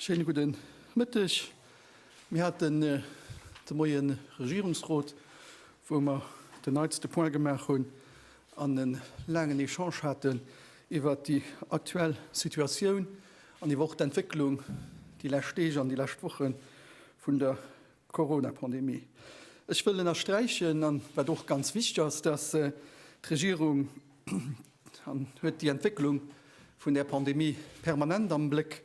Schéine gudden Mëtteg. Mir haten äh, de Moien Regierungsrot, wou mer den neitste Point gemaach hunn an en laangen Echange haten iwwert déi aktuell Situatioun an iwwer och d'Entwécklung déi lescht Deeg an déi lescht Woche vun der D'Corona-Pandemie. Ech wëll ënnersträichen, an wat och ganz wichteg ass, dass d'Regierung huet déi Entwécklung vun där Pandemie permanent am Bléck,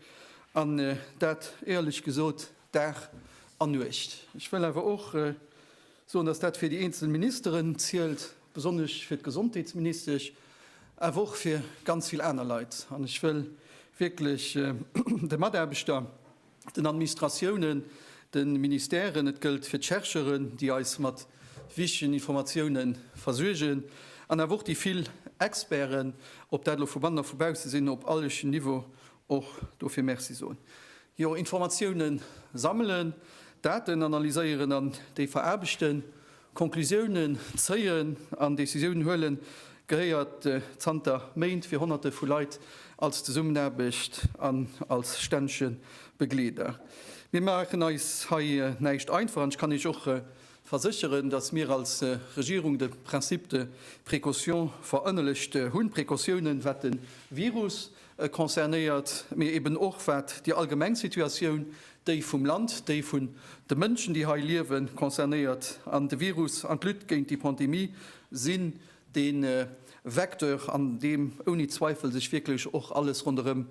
an dat éierlech gesot Dag an Nuecht. Ech wëll awer och soen, dass dat fir déi eenzel Ministeren zielt, besonnesch fir d'Gesondheetsministesch, awer och fir ganz vill aner Leit. An ech wëll wierklech de Mataarbechter, den Administratiounen, de Ministèren, et gëllt fir d'Chercheuren, déi eis mat wichtegen Informatioune versuergen, an awer och déi vill Experten, ob dat elo vu bannen a vu bausse sinn, op allegen Niveau och dofir Merci soen. Jo, Informatioune sammelen, Daten analyséieren an déi veraarbechten. Conclusiounen zéien an Decisiounen huelen gehéiert zanter Méint fir Honnerte vu Leit als Zesummenaarbecht an als stännege Begleeder. Mir maachen eis hei näischt einfach an ech kann Iech och versécheren, datt mir als Regierung de Principe de précaution verënnelegt hunn, Precautiounen wat de Virus, E concernéiert, mee eben och wat déi allgemeng Situatioun, déi vum Land, déi vun de Mënschen, déi hei liewen, concernéiert. An de Virus an d'Lutte géint déi Pandemie sinn dee Vecteur, an deem ouni Zweifel sech wierklech och alles ronderëm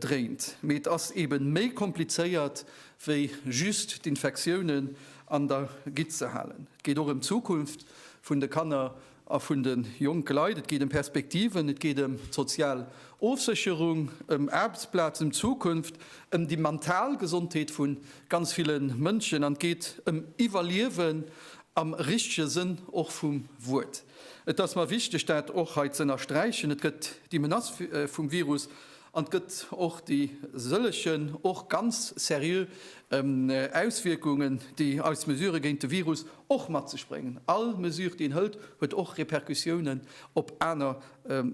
dréint. Mee et ass ebe méi komplizéiert, wéi just d'Infektiounen an der Gitt ze halen. Et geet och ëm d'Zukunft vun de Kanner. A vun de jonke Leit. Et geet ëm Perspektiven, et geet ëm d'sozial Ofsécherung, ëm Aarbechtsplazen, ëm d'Zukunft, ëm déi mental Gesondheet vu ganz ville Mënschen an et geet ëm Iwwerliewen am richtege Sënn och vum Wuert. Et ass mer wichteg, dat och hei z'ënnersträichen. Et gëtt déi Menace vum Virus An et gëtt och déi sëllegen och ganz seriö Auswierkungen, déi eis Mesure géint de Virus och mat sech bréngen. All Mesure, déi een hëlt, huet och Repercussiounen op aner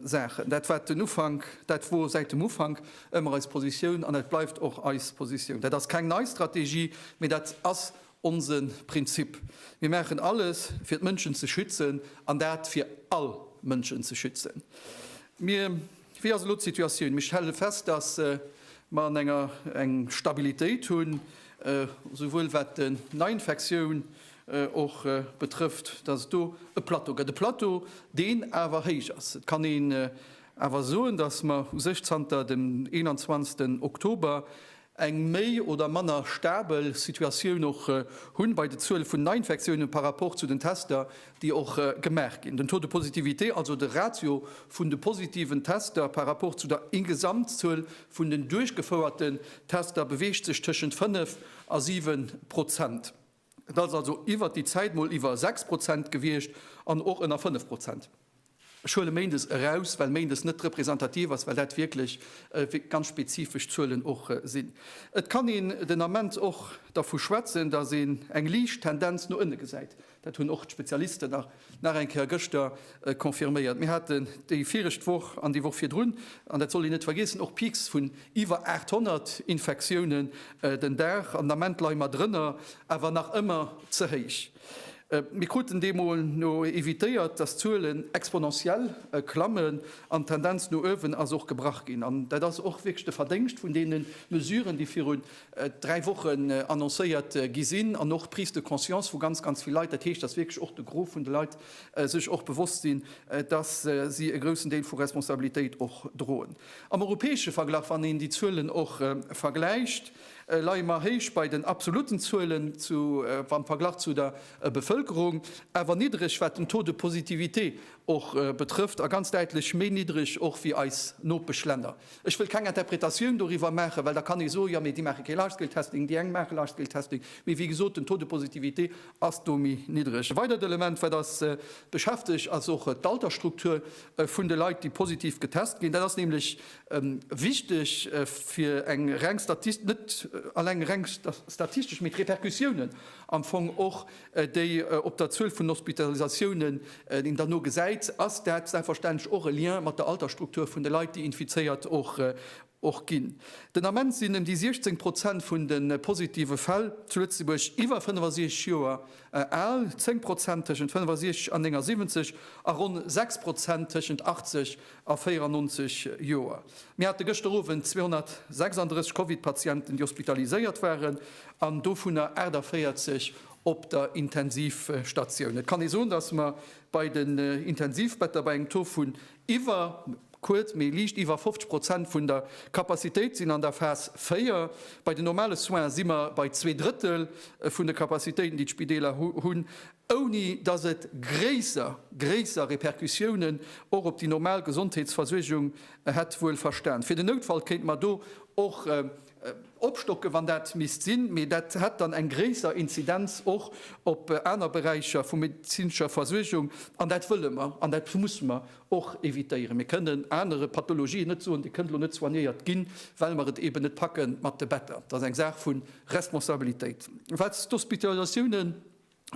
Saachen. Dat war den Ufank, dat wor säit dem Ufank ëmmer eis Positioun an dat bleift och eis Positioun. Dat ass keng nei Strategie, mee dat ass onse Prinzip. Mir maachen alles, fir d'Mënschen ze schützen, an dat fir all Mënschen ze schützen. Mir. Wéi ass elo d'Situatioun? Mir stelle fest, datt mer an enger eng Stabilitéit hunn, esouwuel wat den Neiinfektioun och betrëfft, datt et do e Plateau gëtt, e Plateau, deen awer héich ass. Et kann een awer soen, datt mer u sech zanter dem 21 Oktober eng méi oder manner stabel Situatioun och hunn bei de Zuele vun Neiinfektiounen par rapport zu den Tester, déi och gemaach ginn. Den Taux de positivité, also de Ratio vun de positiven Tester par rapport zu der Gesamtzuel vun den duerchgefouerten Tester, beweegt sech tëschent 5 a 7 Prozent. Et ass also iwwert déi Zäit mol iwwer 6 Prozent gewiescht an och ënner 5 Prozent. Ech huele Méindes eraus, well Méindes net representativ ass, well dat wierklech ganz spezifesch Zuelen och sinn. Et kann een den Ament och dervu schwätzen, datt een eng liicht Tendenz no ënne gesäit. Dat hunn och d'Spezialisten nach. Nach eng Kéier gëschter confirméiert. Mir haten déi viregt Woch an déi Woch virdrun, an dat sollt een net vergeessen, och Peaks vun iwwer 800 Infektiounen den Dag. An den Ament leie mer drënner, awer nach ëmmer ze héich. Mir kruten deemno evitéiert, dass d'Zuelen exponentiell klammen. An d'Tendenz no uewen ass och gebrach ginn. An dat ass och wierklech de Verdéngscht vun deene Mesuren, déi virun dräi Wochen annoncéiert gi sinn an och Prise de conscience vu ganz, ganz vill Leit, dat heescht, dass wierklech och de Gros vun de Leit sech och bewosst sinn, dass si e groussen Deel vu Responsabilitéit och droen. Am europäesche Verglach, wann een déi Zuelen och vergläicht, leie mer héich bei den absolutten Zuelen am Verglach zu der Bevëlkerung, awer niddreg, wat den Taux de positivité och betrëfft, a ganz däitlech méi niddreg och wéi eis Nopeschlänner. Ech wëll keng Interpretatioun doriwwer maachen, well da kann ee soen, jo, mee déi maache kee Large-Scale-Testing, déi eng maache Large-Scale-Testing, mee wéi gesot, den Taux de positivité ass do méi niddreg. E weidert Element, wat eis beschäftegt, ass och d'Altersstruktur vun de Leit, déi positiv getest ginn. Dat ass nämlech wichteg fir eng reng, net eleng reng statistesch, mee d'Repercussiounen am Fong och déi op der Zuel vun Hospitalisatiounen, déi een dann no gesäit, ass dat selbstverständlech och e Lien mat der Altersstruktur vun de Leit, déi infizéiert och ginn. Den Ament sinn ëm déi 16 Prozent vun de positive Fäll zu Lëtzebuerg iwwer 65 Joer al, 10 Prozent tëschent 65 an 79 a ronn 6 Prozent tëschent 80 a 94 Joer. Mir hate gëschter Owend 236 Covid-Patienten, déi hospitaliséiert waren, an dovunner 48 op der Intensivstatioun. Et kann ee soen, datt mer bei den Intensivbetter bei engem Taux vun iwwer, kuerz, mee liicht iwwer 50 Prozent vun der Capacitéit sinn an der Phas 4. Bei den normale Soine si mer bei zwee Drëttel vun de Capacitéiten, déi d'Spideeler hunn. ouni datt et gréisser gréisser Repercussiounen och op déi normal Gesondheetsversuergung hätt, wuel verstan. Fir den Noutfall kéinte mer do och opstocken, wann dat misst sinn, mee dat hätt dann eng gréisser Inzidenz och op aner Beräicher vu medezinescher Versuergung, an dat wëlle mer an dat musse mer och evitéieren. Mir kënnen anere Pathologien net soen, Dir kënnt elo net soignéiert ginn, well mer et eeben net packe mat de Better. Dat ass eng Saach vu Responsabilitéit. Wat d'Hospitalisatiounen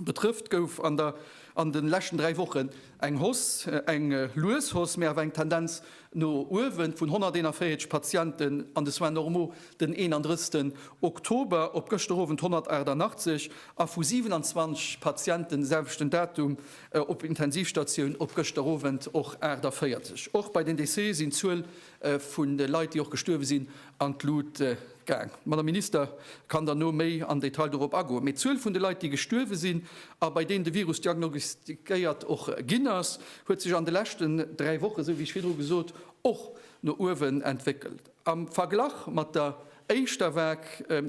Betrëfft gouf an der an de leschten dräi Wochen eng Hausse, eng lues Hausse, mee awer eng Tendenz no uewen, vun 141 Patienten an de Soins normaux den 31 Oktober op gëschter Owend 188 a vu 27 Patienten de selwechten Datum op Intensivstatioun op gëschter Owend och 48. Och bei den Decese sinn d'Zuel vun de Leit, déi och gestuerwe sinn, an d'Lut gaang. D'Madame Minister kann dann no méi am Detail dorop agoen. Mee d'Zuel vun de Leit, déi gestuerwe sinn a bei deenen de Virus diagnostiquéiert och ginn ass, huet sech an de leschten dräi Wochen, esou wéi ech virdru gesot, och no uewen entwéckelt. Am Verglach mat der Éischter vag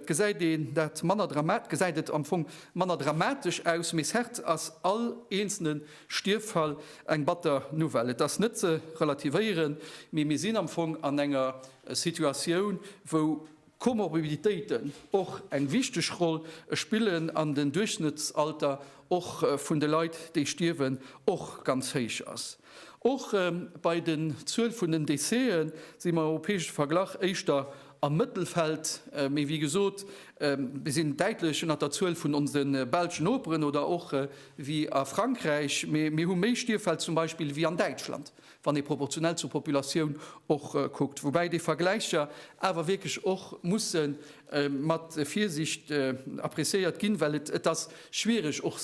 gesäit een dat manner dramatisch, gesäit et am Fong manner dramatesch aus, mee certes ass all eenzelne Stierffall eng batter Nouvelle. Et ass net ze relativéieren, mee mir sinn am Fong an enger Situatioun, wou Komorbiditéiten och eng wichteg Roll spillen an den Duerchschnëttsalter och vun de Leit, déi stierwen, och ganz héich ass. Och bei den Zuel vun den Décéë si mer am europäesche Verglach éischter am Mëttelfeld, mee wéi gesot, mir sinn däitlech ënnert der Zuel vun onse belsch Noperen oder och wéi a Frankräich. Mee mir hu méi Stierfäll zum Beispill wéi an Däitschland, wann ee proportionell zur Populatioun och kuckt. Woubäi déi Vergläicher awer wierklech och musse mat Virsiicht appreciéiert ginn, well et ass, schwiereg och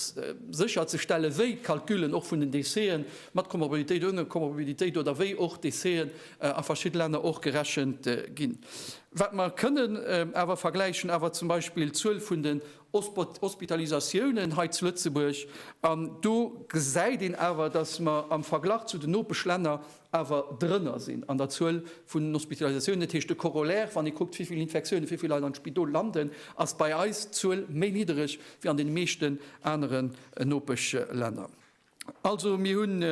sécherzestellen, wéi d'Calculen och vun den Déchet'en mat Komorbidität, oune Komorbidität oder wéi och Déchet'en a verschidde Länner och gerechent ginn. Wat mer kënnen awer vergläichen awer zum Beispill d'Zuel vun den Hospitalisatiounen hei zu Lëtzebuerg, an do gesäit een awer, dass mer am Verglach zu den Nopeschlänner awer drënner sinn an der Zuel vun den Hospitalisatiounen. Dat heescht, de Corollaire, wann ee kuckt, wéi vill Infektiounen, wéi vill Leit am Spidol landen, ass bei eis d'Zuel méi niddereg wéi an deene meeschten aneren Nopeschlänner. Also mir hunn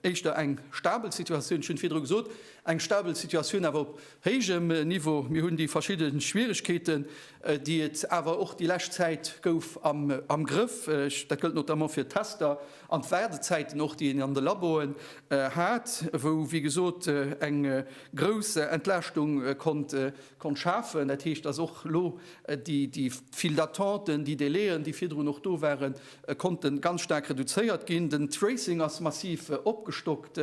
éischter eng stabel Situatioun, ech hunn et virdru gesot, eng stabel Situatioun awer op héijem Niveau. Mir hunn déi verschidde Schwierigkeeten, déi et awer och déi lescht Zäit gouf, am Grëff. Dat gëllt notamment fir d'Tester. An d'Waardezäiten och, déi een an de Laboen hat, wou wéi gesot eng grouss Entlaaschtung konnt schafen. Dat heescht, dass och elo déi vill d'Attenten, déi Délai'en, déi virdrun och do waren, konnte ganz staark reduzéiert ginn. Den Tracing ass massiv opgestockt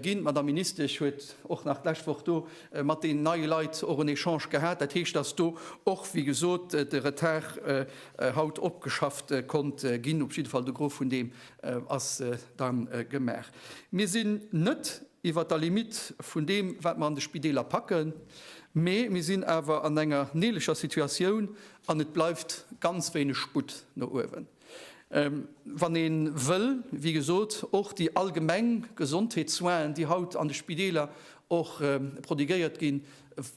ginn. D'Madame Ministesch huet och nach d'lescht Woch do mat deenen neie Leit och en Echange gehat. Dat heescht, dass do och wéi gesot de Retard haut opgeschafft konnt ginn. Op jidde Fall, de Gros vun deem ass da gemaach. Mir sinn net iwwert der Limite vun deem, wat mer an de Spideeler packen, mee mir sinn awer an enger neeleger Situatioun an et bleift ganz wéineg Sputt no uewen, wann ee wëll, wéi gesot, och déi allgemeng Gesondheetssoinen, déi haut an de Spideeler och prodiguéiert ginn,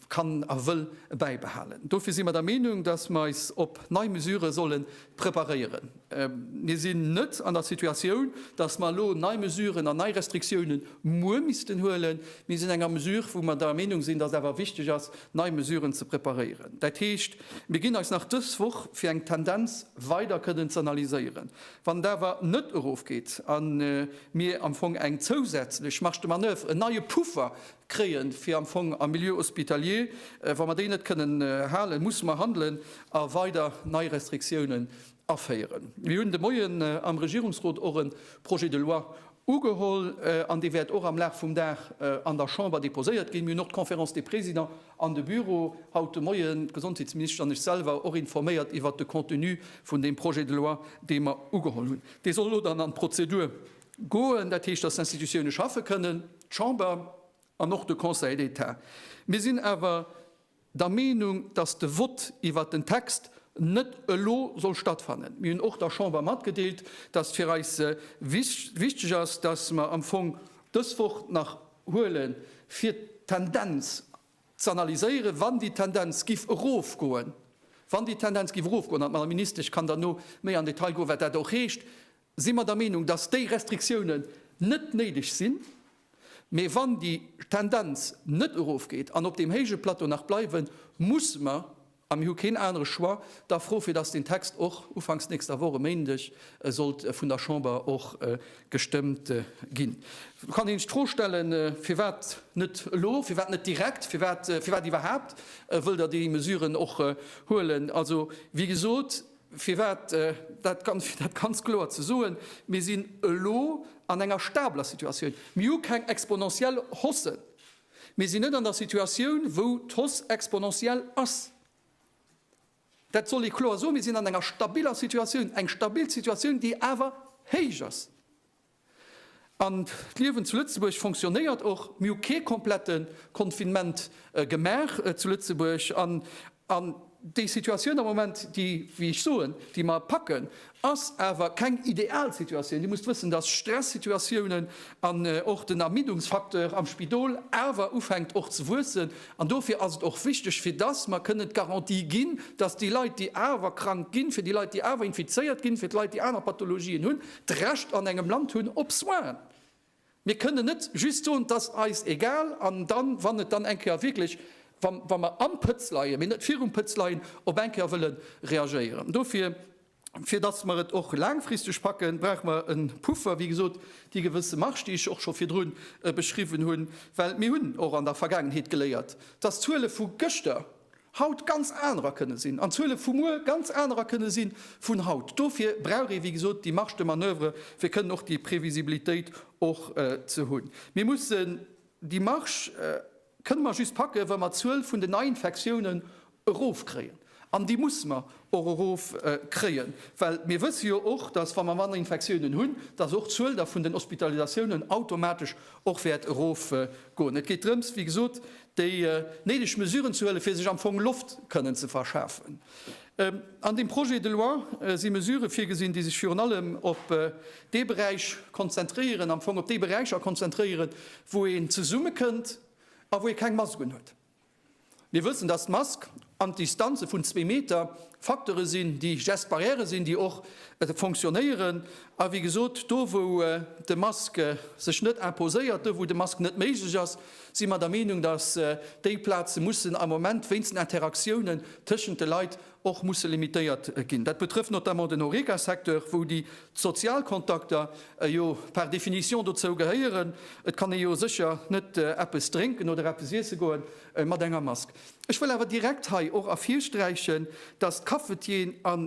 kann a wëll bäibehalen. Dofir si mer der Meenung, datt mer eis op nei Mesurë solle preparéieren. Mir sinn net an der Situatioun, datt mer elo nei Mesuren an nei Restriktioune muer missten huelen. Mir sinn an enger Mesure, wou mer der Meenung sinn, datt et awer wichteg ass, nei Mesuren ze preparéieren. Dat heescht, mir ginn eis nach dës Woch, fir eng Tendenz weider kënnen ze analyséieren. Wann et awer net erofgeet a mir am Fong eng zousätzlech Marge de manoeuvre, en neie Puffer kréien, fir am Fong am Milieu hospitalier, wa mer déi net kënnen halen, musse mer handelen a weider nei Restriktiounen aféieren. Mir hunn de Moien am Regierungsrot och e Projet de loi ugeholl an dee wäert och am Laf vum Dag an der Chamber déposéiert ginn. Mir hunn och d'Conférence des Présidents an de Büro haut de Moien, d'Gesondheetsministesch an ech selwer, och informéiert iwwert de Contenu vun deem Projet de loi, dee mer ugeholl hunn. Dee soll elo dann an d'Prozedur Goen, dat heescht, dass d'Institutiounen schaffe kënnen, d'Chamber an och de Conseil d'État. Mir sinn awer der Meenung, dass de Vott iwwert den Text net elo soll stattfannen. Mir hunn och der Chamber matgedeelt, dass fir eis wichteg ass, dass mer am Fong dës Woch nach huelen, fir d'Tendenz z'analyséieren, wann déi Tendenz giff erofgoen, wann déi Tendenz giff erofgoen, an d'Madame Ministesch kann dann méi am Detail goen, wat dat och heescht, si mer der Meenung, dass déi Restriktiounen net néideg sinn, mä wann déi Tendenz net erofgeet an op deem héije Plateau nach bleiwen, musse mer, a mir hu keen anere Choix, da froe fir dass deen Text och ufanks nächster Woch, e Méindeg, sollt vun der Chamber och gestëmmt ginn. Do kann een sech d'Fro stellen, Firwat net elo, firwat net direkt, firwat iwwerhaapt wëllt Der déi Mesuren och huelen? Also, wéi gesot, Firwat? Dat ganz kloer ze soen, Mir sinn elo an enger stabeler Situatioun. Mir hu keng exponentiell Haussen. Mir sinn net an der Situatioun, wou d'Hausse exponentiell ass. Dat soll ee kloer soen. Mir sinn an enger stabiler Situatioun, eng stabil Situatioun, déi awer héich ass. An d'Liewen zu Lëtzebuerg fonctionnéiert och. Mir hu kee komplette Confinement gemaach zu Lëtzebuerg. An déi Situatioun am Moment, déi, wéi ech soen, déi mer packen, ass awer keng ideal Situatioun. Dir musst wëssen, dass Stressituatiounen an och den Ermiddungsfacteur am Spidol awer ufänkt och ze wuessen. An dofir ass et och wichteg, fir dass mer kënnen d'Garantie ginn, dass déi Leit, déi awer krank ginn, fir déi Leit, déi awer infizéiert ginn, fir d'Leit, déi aner Pathologien hunn, d'Recht an engem Land hunn op Soins. Mir kënnen net just soen, et ass eis egal an dann, wann et dann eng Kéier wierklech, wa mer am Pëtz leien, mee net virum Pëtz leien, op eng Kéier wëlle reagéieren. Dofir, fir dass mer et och laangfristeg packen, brauche mer e Puffer, wéi gesot, déi gewësse Marge, déi ech och scho virdru beschriwwen hunn, well mir hunn och an der Vergaangenheet geléiert, dass d'Zuele vu gëschter haut ganz anerer kënne sinn an d'Zuele vu muer ganz anerer kënne si vun haut. Dofir brauch ee wéi gesot déi Marge de manoeuvre fir kënnen och déi Previsibilitéit och ze hunn. Mir mussen déi Marge kënne mer just packen, wa mer d'Zuel vun den Neiinfektiounen erofkréien an déi musse mer och erofkréien, well mir wësse jo och, datt wa mer manner Infektiounen hunn, datt och d'Zuel da vun den Hospitalisatiounen automatesch och wäert erofgoen. Et geet drëms wéi gesot déi néideg Mesuren ze huelen, fir sech am Fong Loft kënnen ze verschafen. An deem Projet de loi si Mesurë virgesinn, déi sech virun allem op dee Beräich konzentréieren, am Fong op déi Beräicher konzentréieren, wou een zesummekënnt a wou ee keng Masken huet. Mir wëssen, dass d'Mask an Distanze vun zwee Meter Facteure sinn, déi Gestes barrières sinn, déi och fonctionnéieren a wéi gesot, do wou de Masque sech net imposéiert, do wou de Masque net méiglech ass, si mer der Meenung, datt déi Plaze mussen am Moment wéinst den Interaktiounen tëschent de Leit och musse limitéiert ginn. Dat betrëfft notamment den Horeca-Secteur, wou déi Sozialkontakter jo par définition dozou gehéieren. Et kann ee jo sécher net eppes drénken oder eppes iesse goe mat enger Mask. Ech wëll awer direkt hei och ervirsträichen, dass d'Cafetieren a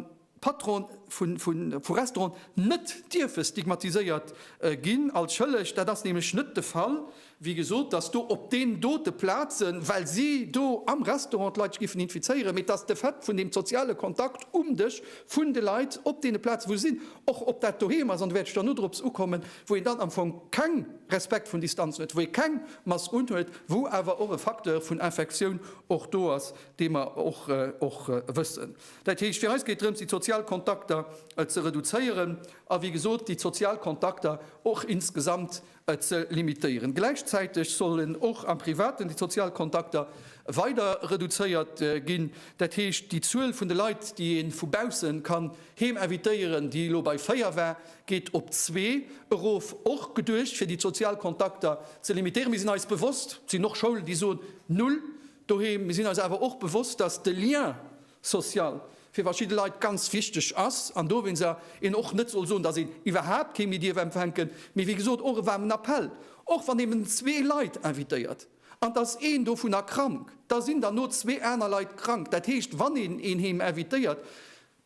Patrone vu Restauranten net dierfe stigmatiséiert ginn als schëlleg. Dat ass nämlech net de Fall. Wéi gesot, dass do op deenen dote Plaze, well si do am Restaurant d'Leit sech géifen infizéieren, mee dass de Fait vun deem soziale Kontakt um Dësch vun de Leit op deene Plaze wou se sinn, och ob dat doheem ass, an do wäert ech dann nodrops ukommen, wou een dann am Fong keng Respekt vun Distanzen huet, wou ee keng Mass unhuet, wou awer och e Facteur vun Infektioun och do ass, dee mer och wëssen. Dat heescht, fir eis geet drëms, déi sozial Kontakter ze reduzéieren a wéi gesot déi sozial Kontakter och insgesamt ze limitéieren. Gläichzäiteg sollen och am Privaten déi sozial Kontakter weider reduzéiert ginn. Dat heescht, déi Zuel vun de Leit, déi ee vu baussen kann heem invitéieren, déi elo bei 4 war, Geet op zwee erof. Och geduecht fir déi d'sozial Kontakter ze limitéieren. Mir sinn eis bewosst, et sinn och Schoulen déi soen, null doheem. Mir sinn eis awer och bewosst, datt de Lien social fir verschidde Leit ganz wichteg ass an dowéinst een och net soll soen, datt een iwwerhaapt kee méi dierf empfänken. Mee wéi gesot och e waarmen Appell, och wann ee zwee Leit invitéiert an et ass een dovunner krank, da sinn der no zwee aner Leit krank. Dat heescht, wann een een heem invitéiert,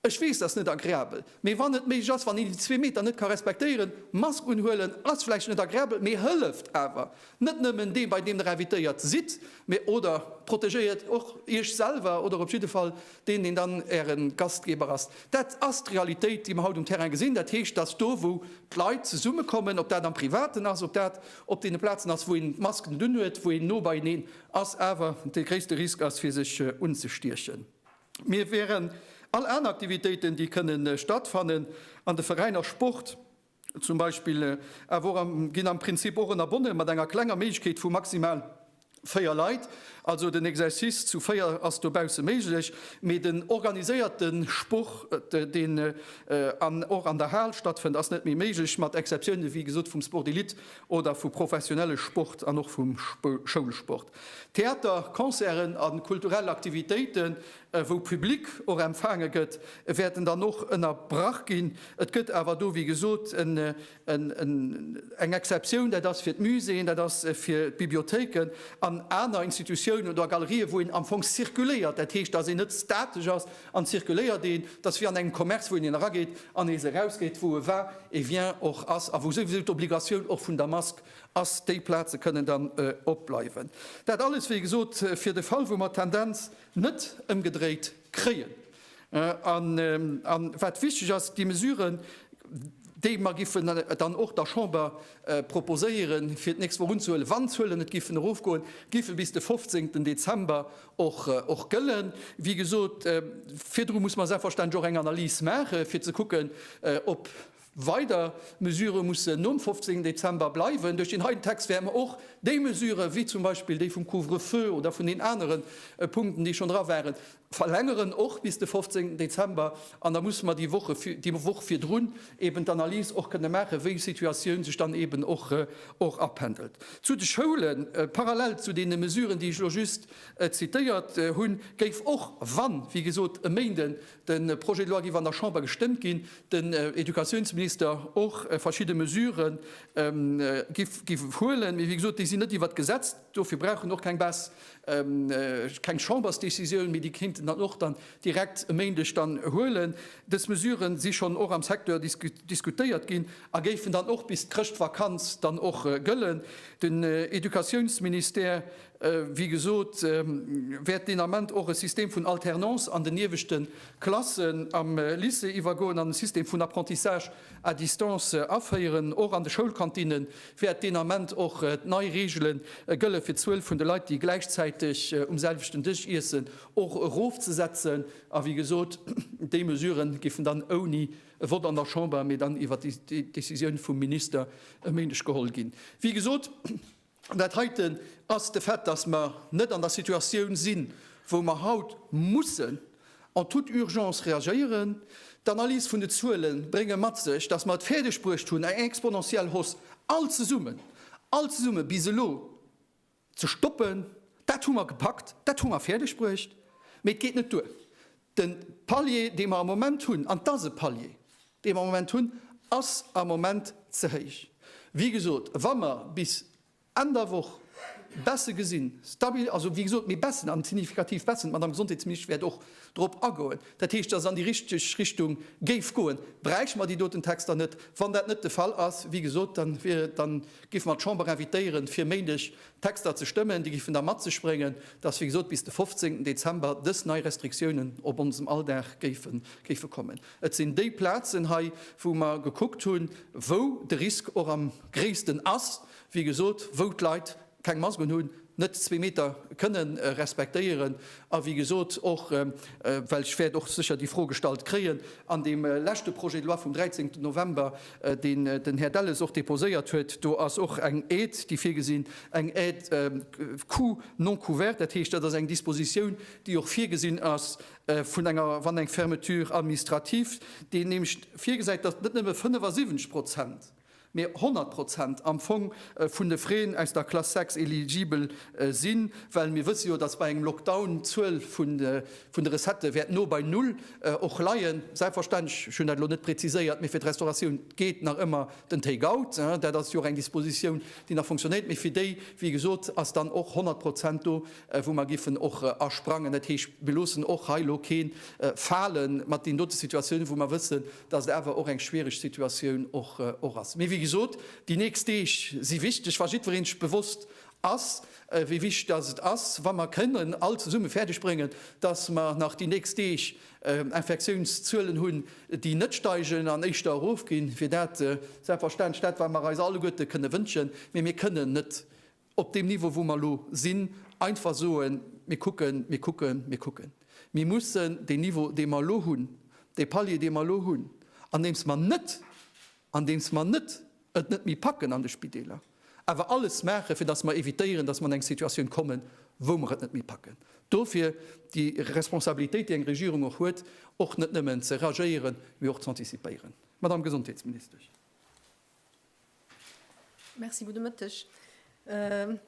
Ech weess, dat ass net agreabel, mee wann et méiglech ass, wann een déi zwee Meter net ka respektéieren, Mask unhuelen ass vläicht net agreabel, mee hëlleft awer. Net nëmmen deem, bei deem Der invitéiert sidd, mee oder protegéiert och Iech selwer oder op jidde Fall deen, deen dann Äre Gastgeber ass. Dat ass d'Realitéit, déi mer haut um Terrain gesinn. Dat heescht, dass do, wou d'Leit zesummekommen, ob dat am Privaten ass, ob dat op deene Plazen ass, wou een d'Mask net unhuet, wou een no beieneen ass, awer de gréisste Risk ass, fir sech unzestiechen. Mir wären all aner Aktivitéiten, déi kënne stattfannen an de Veräiner Sport zum Beispill, awer och am, ginn am Prinzip och ënnerbonne mat enger klenger Méiglechkeet vu maximal véier Leit. Also den Exercice zu véier ass dobausse méiglech, mee den organiséierte Sport, deen och an der Hal stattfënnt, ass net méi méiglech, mat Exceptioune wéi gesot vum Sport d'élite oder vu professionelle Sport an och vum Schoulsport. Theater, Concerten a kulturell Aktivitéiten, wou Public och empfaange gëtt, wäerten dann och ënnerbrach ginn. Et gëtt awer do, wéi gesot, eng Exceptioun, dat ass fir d'Muséeën, dat ass fir d'Bibliothéiken an aner Institutiounen oder Galerië, wou een am Fong zirkuléiert, dat heescht, dass een net statesch ass an zirkuléiert. Een, dat ass wéi an engem Commerce, wou een een erageet an nees erausgeet, wou e war, e vient, och ass a wou souwisou d'Obligatioun och vun der Mask ass, déi Plaze kënnen dann opbleiwen. Dat alles, wéi gesot, fir de Fall, wou mer d'Tendenz net ëmgedréit kréien. A wat wichteg ass, déi Mesuren, déi mer giffen dann och der Chamber proposéieren, fir d'nächst Woch unzehuelen, wann d'Zuelen net giffen erofgoen, giffe bis de 15 Dezember och gëllen. Wéi gesot, virdru muss mer selbstverständlech och eng Analys maachen, fir ze kucken, ob, Weider Mesurë mussen nom 15 Dezember bleiwen. Duerch deen heiten Text wäerte mer och déi Mesurë wéi zum Beispill déi vum Couvre-feu oder vun den anere Punkten, déi schonn dra waren, verlängeren, och bis de 15 Dezember. An da musse mer déi Woche, déi Woch virdrun eeben d'Analys och kënne maachen, wéi d'Situatioun sech dann eeben och apendelt. Zu de Schoulen, Parallel zu deene Mesuren, déi ech elo just zitéiert hunn, géif och, wann, wéi gesot, e Méinden De Projet de loi géif an der Chamber gestëmmt ginn, den Educatiounsminister och verschidde Mesurë géif huelen. Mee wéi gesot, déi sinn net iwwert d'Gesetz, dofir brauchen och keng Base, keng Chambersdecisioun, mee déi kéinten dann och dann direkt e Méindeg dann huelen. Dës Mesurë si schonn och am Secteur diskutéiert ginn a géifen dann och bis d'Chrëschtvakanz dann och gëllen. Den Educatiounsministère Wéi gesot, wäert deen Ament och e System vun Alternance an den ieweschte Klassen am Lycée iwwergoen an e System vun Apprentissage à distance aféieren. Och an de Schoulkantinne wäert deen Ament och nei Reegele gëlle fir d'Zuel vun de Leit, déi gläichzäiteg um selwechten Dësch iessen, och erofzesetzen. A wéi gesot, déi Mesurë géifen dann ouni e Vott an der Chamber, mee dann iwwer déi Décisioun vum Minister e Méindeg geholl ginn. Wéi gesot, An dat heiten ass de Fait, dass mer net an der Situatioun sinn, wou mer haut mussen en toute urgence reagéieren. D'Analys vun de Zuele brénge mat sech, dass mer et fäerdegbruecht hunn, eng exponentiell Hausse all zesummen, all zesummen bis elo ze stoppen. Dat hu mer gepackt, dat hu mer fäerdegbruecht, mee et geet net duer, De Palier, dee mer am Moment hunn, an et ass e Palier, dee mer am Moment hunn, ass am Moment ze héich. Wéi gesot, wa mer bis Enn der Woch Baisse gesinn, stabil, also, wéi gesot, mee Baissen, an signifikativ Baissen, d'Madame Gesondheetsministesch wäert och drop agoen, dat heescht, datt et an déi richteg Richtung géif goen, bräichte mer déi doten Texter net. Wann dat net de Fall ass, wéi gesot, dann géife mer d'Chamber invitéieren, fir Méindeg Texter ze stëmmen, déi giffen da mat sech bréngen, dass, wéi gesot, bis de 15. Dezember dës nei Restriktiounen op onsem Alldag géife kommen. Et sinn déi Plazen hei, wou mer gekuckt hunn, wou de Risk och am gréissten ass, wéi gesot, wou d'Leit keng Mask unhunn, net zwee Meter kënne respektéieren a wéi gesot och, well ech wäert och sécher déi Fro gestallt kréien, an deem leschte Projet de loi vum 13. November deen den Här Delles och déposéiert huet, do ass och eng Aide, déi virgesinn, eng Aide coût non couvert. Dat heescht, dat ass eng Dispositioun, déi och virgesinn ass vun enger, wann eng Fermeture administrative, déi nämlecht virgesäit, datt net nëmme 75 Prozent, mä 100 Prozent am Fong vun de Frais aus der Classe 6 eligibel sinn, well mir wësse jo, datt bei engem Lockdown d'Zuel vun de vun de Recettë wäert no bei Null och leien. Selbstverständlech, ech hunn dat elo net präziséiert, mee fir d'Restauratioun geet nach ëmmer den Take out. Dat ass jo och eng Dispositioun, déi nach funktionéiert. Mee fir déi, wéi gesot, ass dann och 100 Prozent do, wou mer giffen och asprangen. Dat heescht, mir loossen och hei elo kee fale mat deenen dote Situatiounen, wou mer wëssen, dass et awer och eng schwierig Situatioun och ass. Mee wéi gesot, déi nächst Deeg si wichteg. Wa jiddwereen sech bewosst ass, wéi wichteg dass et ass, wa mer kënnen all zesumme fäerdeg bréngen, dass mer nach déi nächst Deeg Infektiounszuelen hunn, déi net steigen an éischter erofginn, wier dat selbstverständlech dat, wat mer eis alleguerte kënne wënschen. Mee mir kënnen net op deem Niveau, wou mer elo sinn, einfach soen, Mir kucken, mir kucken, mir kucken. Mir mussen deen Niveau, dee mer elo hunn, dee Palier, dee mer elo hunn, andeems mer net, andeems mer net et net méi packen an de Spideeler, awer alles maachen, fir datt mer évitéieren, datt mer an eng Situatioun kommen, wou mer et net méi packen. Dofir déi Responsabilitéit, déi eng Regierung och huet, och net nëmmen ze reagéieren, mee och z'antizipéieren. Madame Gesondheetsministesch. Merci, gudde Mëtteg.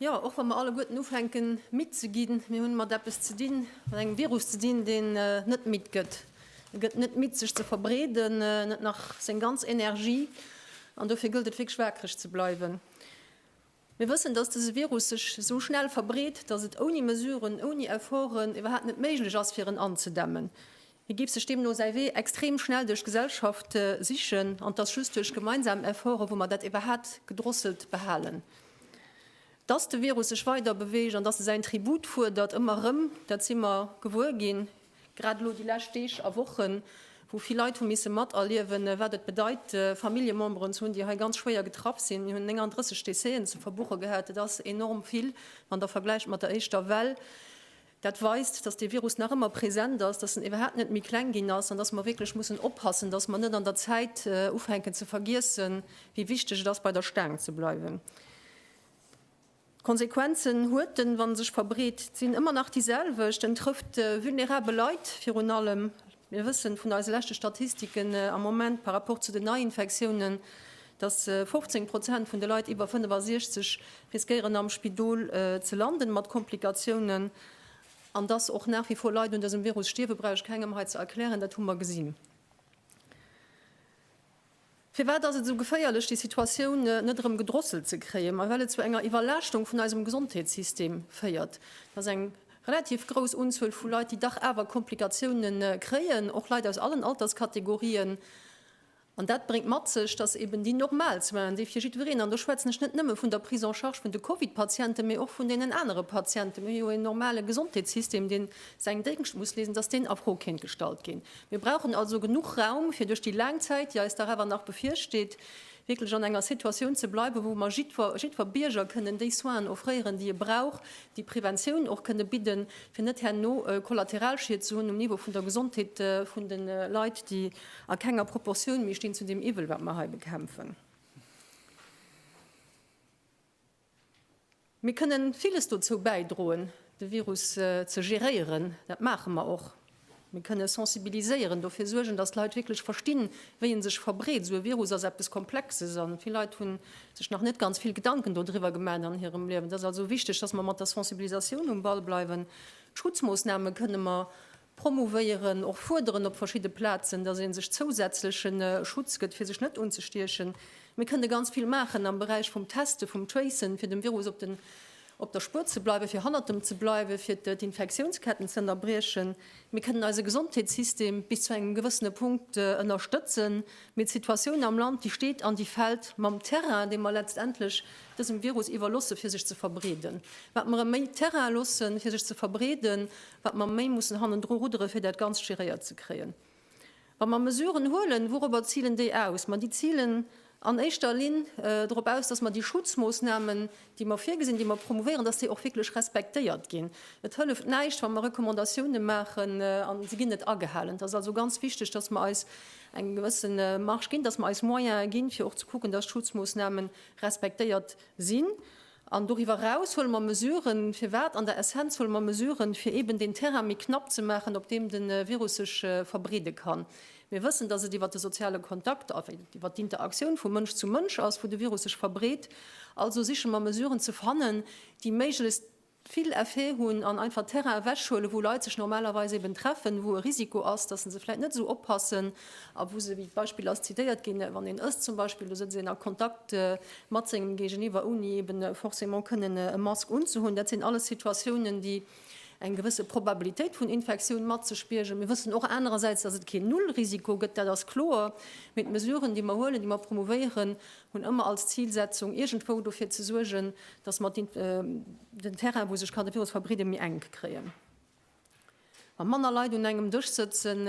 Jo, och wa mer alleguerten ufänken, midd ze ginn, mir hunn mat eppes ze dinn, mat engem Virus ze dinn, deen net midd gëtt. E gëtt net midd sech ze verbreeden, net nach seng ganz Energie an dofir gëllt et wierklech waakreg ze bleiwen. Mir wëssen, datt dëse Virus sech esou schnell verbreet, datt et ouni Mesuren, ouni Efforten iwwerhaapt net méiglech ass fir en anzedämmen. Hie géif sech deemno säi Wee extrem schnell duerch d'Gesellschaft sichen an et ass just duerch gemeinsam Efforten, wou mer dat iwwerhaapt gedrosselt behalen. Datt de Virus sech weider beweegt an datt e säin Tribut fuerdert, ëmmer erëm, dat si mer gewuer ginn. Grad elo déi lescht Deeg a Wochen, wou vill Leit hu misse materliewen, wat et bedeit, Familljememberen ze hunn, déi hei ganz schwéier getraff sinn. Mir hunn 39 Décéëen ze verbuche gehat. Dat ass enorm vill, wann Der vergläicht mat der éischter Well. Dat weist, dass dee Virus nach ëmmer present ass, dass en iwwerhaapt net méi kleng ginn ass an dass mer wierklech mussen oppassen, dass mer net an der Zäit ufänken ze vergiessen, wéi wichteg et ass, bei der Staang ze bleiwen. D'Konsequenzen huet den, wann en sech verbreet, sinn ëmmer nach déi selwecht, en trëfft vulnerabel Leit virun allem. Mir wëssen vun eise leschte Statistiken am Moment par rapport zu den Neiinfektiounen, dass 15 Prozent vun de Leit iwwer 65 riskéieren am Spidol ze landen mat Komplikatiounen. An dass och nach wie vor Leit un dësem Virus stierwen, brauch ech kengem hei ze erklären, dat hu mer gesinn. Firwat ass et esou geféierlech, déi Situatioun net erëm gedrosselt ze kréien? Mä well et zu enger Iwwerlaaschtung vun eisem Gesondheetssystem féiert. Et ass eng relativ grouss Unzuel vu Leit, déi dach awer Komplikatioune kréien, och Leit aus allen Alterskategorien. An dat bréngt mat sech, datt eben déi normal Soinen, déi fir jiddwereen, an do schwätzen ech net nëmme vun der Prise en charge vun de Covid-Patienten, mä och vun deenen anere Patienten, mir hu jo en normale Gesondheetssystem, dee säin Déngscht muss leeschten, datt deen a Fro kéint gestallt ginn. Mir brauchen also genuch Raum, fir duerch déi laang Zäit, déi eis dach awer nach bevirsteet, wierklech an enger Situatioun ze bleiwen, wou mer jiddwer, jiddwer Bierger kënnen déi Soinen offréieren, déi e brauch, déi Preventioun och kënnen bidden, fir net herno Kollateralschied ze hunn um Niveau vun der Gesondheet vun de Leit, déi a kenger Proportioun méi stinn zu deem Iwwel, wat mer hei bekämpfen. Mir kënnen villes dozou bäidroen, de Virus ze geréieren. Dat maache mer och. Mir kënnen sensibiliséieren, dofir suergen, dass d'Leit wierklech verstinn, wéi e sech verbreet. Esou e Virus ass eppes Komplexes a vill Leit hu sech nach net ganz vill Gedanken dodriwwer gemaat an hirem Liewen. Et ass also wichteg, dass mer mat der Sensibilisatioun um Ball bleiwen. D'Schutzmoossname kënnen mer promouvéieren, och fuerderen op verschidde Plazen, dass ee sech zousätzlechen Schutz gëtt, fir sech net unzestiechen. Mir kënne ganz vill maachen am Beräich vum Testen, vum Tracen, fir dem Virus op den, op der Spuer ze bleiwen, fir hannert em ze bleiwen, fir d'Infektiounsketten ze ënnerbriechen. Mir kënnen eise Gesondheetssystem bis zu engem gewëssene Punkt ënnerstëtzen, mee d'Situatioun am Land, déi steet an déi fält mam Terrain, dee mer letztendlech dësem Virus iwwerlosse fir sech ze verbreeden. Wat mer em méi Terrain loossen, fir sech ze verbreeden, wat mer méi mussen hannendru ruddere fir dat Ganzt géréiert ze kréien. Wa mer Mesuren huelen, wourobber zilen déi aus? Ma déi zilen an éischter Linn dorop aus, datt mer déi Schutzmoossnamen, déi mer virgesinn, déi mer promouvéieren, datt déi och wierklech respektéiert ginn. Et hëlleft näischt, wa mer Recommandatiounen maachen an se ginn net agehalen. Et ass also ganz wichteg, datt mer eis eng gewësse Marge ginn, datt mer eis Moyene ginn, fir och ze kucken, datt d'Schutzmoossnamen respektéiert sinn. An doriwwer eraus huele mer Mesuren. Firwat? An der Essenz huele mer Mesuren, fir eeben deen Terrain méi knapp ze maachen, op deem de Virus sech verbreede kann. Mir wëssen, dass et iwwert de soziale Kontakt, iwwert d'Interaktioun vu Mënsch zu Mënsch ass, wou de Virus sech verbreet. Also siche mer Mesuren ze fannen, déi méiglechst vill Effet hunn an einfach Terrain ewechhuelen, wou Leit sech normalerweis eeben treffen, wou e Risiko ass, dass se se vläicht net esou oppassen. a wou se wéi Beispill ass zitéiert ginn, wann een ësst zum Beispill, do sëtzt een a Kontakt mat sengem Géigeniwwer, ouni eben forcément kënnen e Mask unzehunn. Dat sinn alles Situatiounen, déi eng gewësse Probabilitéit vun Infektioun mat sech biergen. Mir wëssen och anerersäits, dass et keen Nullrisiko gëtt, dat ass kloer, mee d'Mesuren, déi mer huelen, déi mer promouvéieren, hunn ëmmer als Zilsetzung, iergendwou dofir ze suergen, dass mer den Terrain, wou sech ka de Virus verbreeden, méi enk kréien. Wa manner Leit un engem Dësch sëtzen,